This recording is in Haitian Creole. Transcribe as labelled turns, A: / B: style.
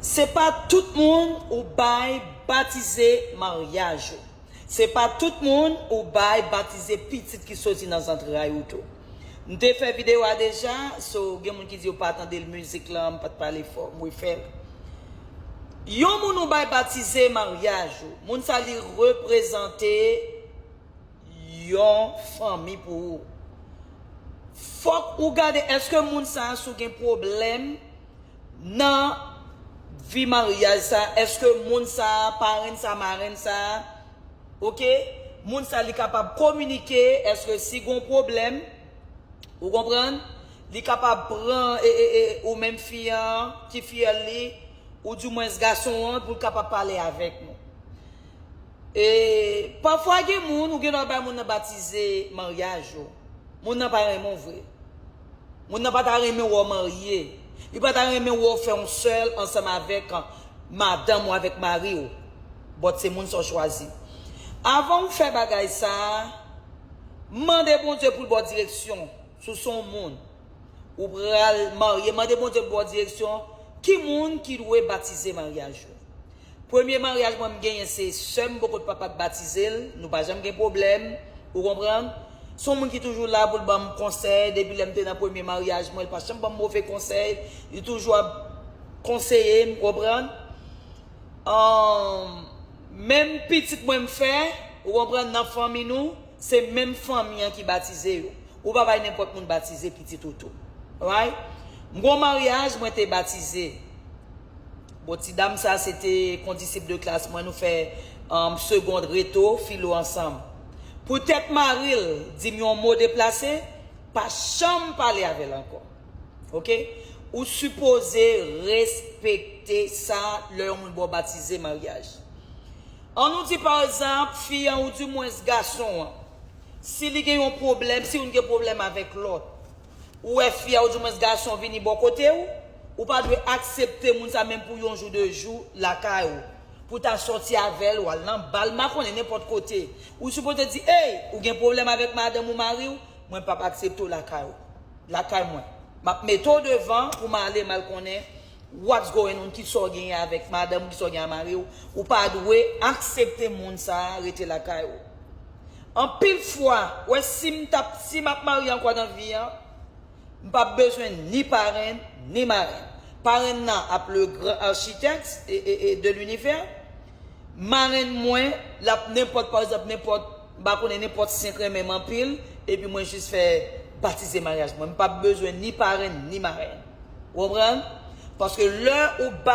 A: Se pa tout moun ou bay batize maryaj ou. Se pa tout moun ou bay batize pitit ki soti nan zantray ou tou. M te fè video a deja, so gen moun ki di yo pa tande l mizik lan, m pat pale fò, m refè l. Yon moun ou bay batize maryaj ou, moun sa li reprezante yon fanmi pou ou. Fòk ou gade eske moun sa sou gen pwoblèm. Nan vi maryaj sa eske moun sa parenn sa marenn sa ok moun sa li kapab kominike eske si gon pwoblèm ou konprann li kapab pran ou menm fi an ki fiyèl li ou di mwen s gason an pou l kapab pale avèk nou e pafwa gen moun ou gen dwa bay moun nan batize maryaj ou moun nan pa renmen w vre. Moun nan pa ta renmen wè w marye. Li pa ta renmen wè w fè yon sèl ansanm avèk madanm ou avèk mari w. But se moun sa w chwazi. Avan ou fè bagay sa a, mande Bondye pou l ba w direksyon sou se yon moun ou pral marye. Mande Bondye pou l ba w direksyon ki moun ki dwe batize maryaj ou. Premye maryaj mwen m genyen se sèm boko t papa t batizel nou pa janm gen pwoblèm ou konprann son moun ki toujou la poul banm konsèy depi lèm te nan premye maryaj mwen li pa janm banm move konsèy li toujou ap konseyem ou konprann humm menm pitit mwen m fè ou konprann nan fanmi nou se menm fanmi an ki batize yo ou pa bay nenpòt moun batize pitit ou tou right m gon maryaj mwen te batize. Bon ti dam sa se te kondisip de klas mwen nou fè segond reto filo ansanm. Pou tèt mari l di m yon mo deplase, pa janm pale avè l ankò. Ok. Ou sipoze respekte sa lè yon moun ba w batize, maryaj. An nou di pa egzanp fi an ou di mwens gason an si li gen yon pwoblèm, si youn gen pwoblèm avèk lòt. Ou wè fi a ou di mwens gason vini bò kote ou, ou pa dwe aksepte moun sa menm pou yon jou de jou lakay ou, pou ta sòti avè l, ou al nan bal, m pa konnen nenpòt kote. Ou sipoze di ey, ou gen pwoblèm avèk madanm ou mari w, mwen p ap aksepte w lakay ou, lakay mwen. M ap mete w devan pou m ale m al konnen. What's going on kisa w genyen avèk madanm ou kisa w genyen a mari w ou pa dwe aksepte moun sa rete lakay ou anpil fwa wè sim tap si map marye ankò nan vi an m pap bezwen ni parenn ni marenn parenn nan ap le gran architect de l'univers marenn mwen lap nenpòt parekzanp nenpòt M pa konnen nenpòt sen k renmen m anpil, epi mwen jis fè batize maryaj mwen. M pap bezwen ni parenn ni marenn. Ou konprann? Paske lè ou bat.